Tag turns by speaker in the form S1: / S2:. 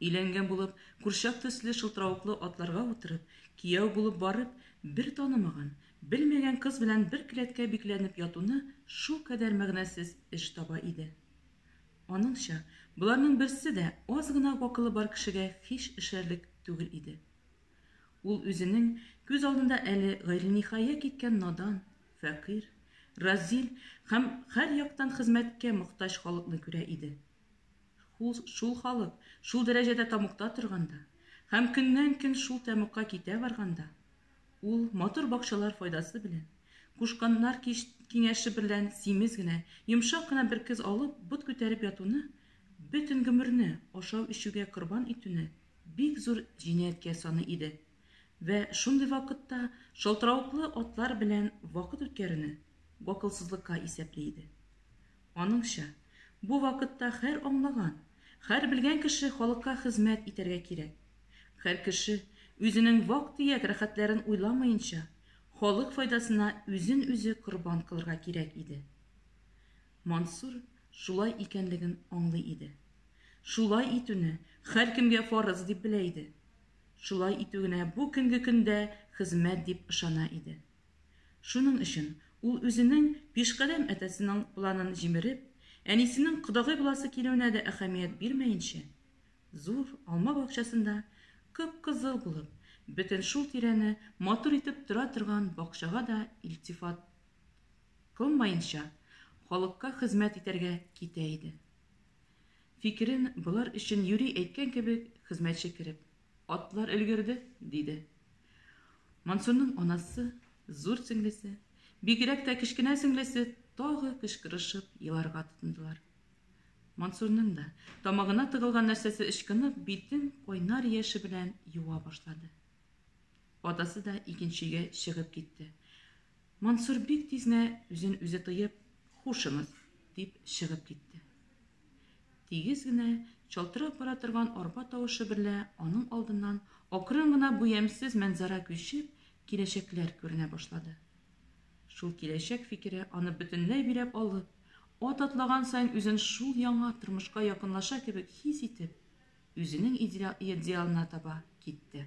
S1: Өйләнгән булып, курчак төсле шылтыравыклы атларга утырып, кияү булып барып, бер танымаган, белмәгән кыз белән бер келәткә бикләнеп ятуны шулкадәр мәгънәсез эш таба иде. Аныңча, боларның берсе дә аз гына гакылы бар кешегә һич эшәрлек түгел иде. Ул үзенең күз алдында әле гайрениһая киткән надан, фәкыйрь, разил һәм һәр яктан хезмәткә мохтаҗ халыкны күрә иде. Шул халык шул дәрәҗәдә тамукта торганда һәм көннән-көн шул тәмугка китә барганда, ул матур бакчалар файдасы белән, кушканнар киңәше берлән симез генә, йомшак кына бер кыз алып, бот күтәреп ятуны, бөтен гомерне ашау-эчүгә корбан итүне бик зур җинаятькә саный иде. Вә шундый вакытта шалтыравыклы атлар белән вакыт үткәрүне гакылсызлыкка исәпли иде. Аныңча, бу вакытта хәр аңлаган, хәр белгән кеше халыкка хезмәт итәргә кирәк. Хәр кеше, үзенең вак-төяк рәхәтләрен уйламаенча, халык файдасына үзен-үзе корбан кылырга кирәк иде. Мансур шулай икәнлеген аңлый иде. Шулай итүне хәркемгә фарыз дип белә иде. Шулай итү генә бу көнге көндә хезмәт дип ышана иде. Шуның өчен ул үзенең пишкадәм әтәсенең планын җимереп, әнисенең кодагый буласы килүенә дә әһәмият бирмәенчә, зур алма бакчасында кып-кызыл булып, бөтен шул тирәне матур итеп тора торган бакчага да илтифат кылмаенча, халыкка хезмәт итәргә китә иде. Фикерен болар өчен юри әйткән кебек хезмәтче кереп Атлар өлгерде, диде. Мансурның анасы, зур сеңлесе, бигрәк тә кечкенә сеңлесе тагы кычкырышып еларга тотындылар. Мансурның да тамагына тыгылган нәрсәсе ычкынып, битен кайнар яше белән юа башлады. Атасы да икенче өйгә чыгып китте. Мансур бик тиз генә үзен үзе тыеп, хушыгыз, дип чыгып китте. Тигез генә, чалтырап бара торган арба тавышы берлә аның алдыннан акрын гына бу ямьсез мәнзарә күчеп, киләчәкләр күренә башлады. Шул киләчәк фикере аны бөтенләй биләп алып, ат атлаган саен үзен шул яңа тормышка якынлаша кебек хис итеп, үзенең идеалына таба китте.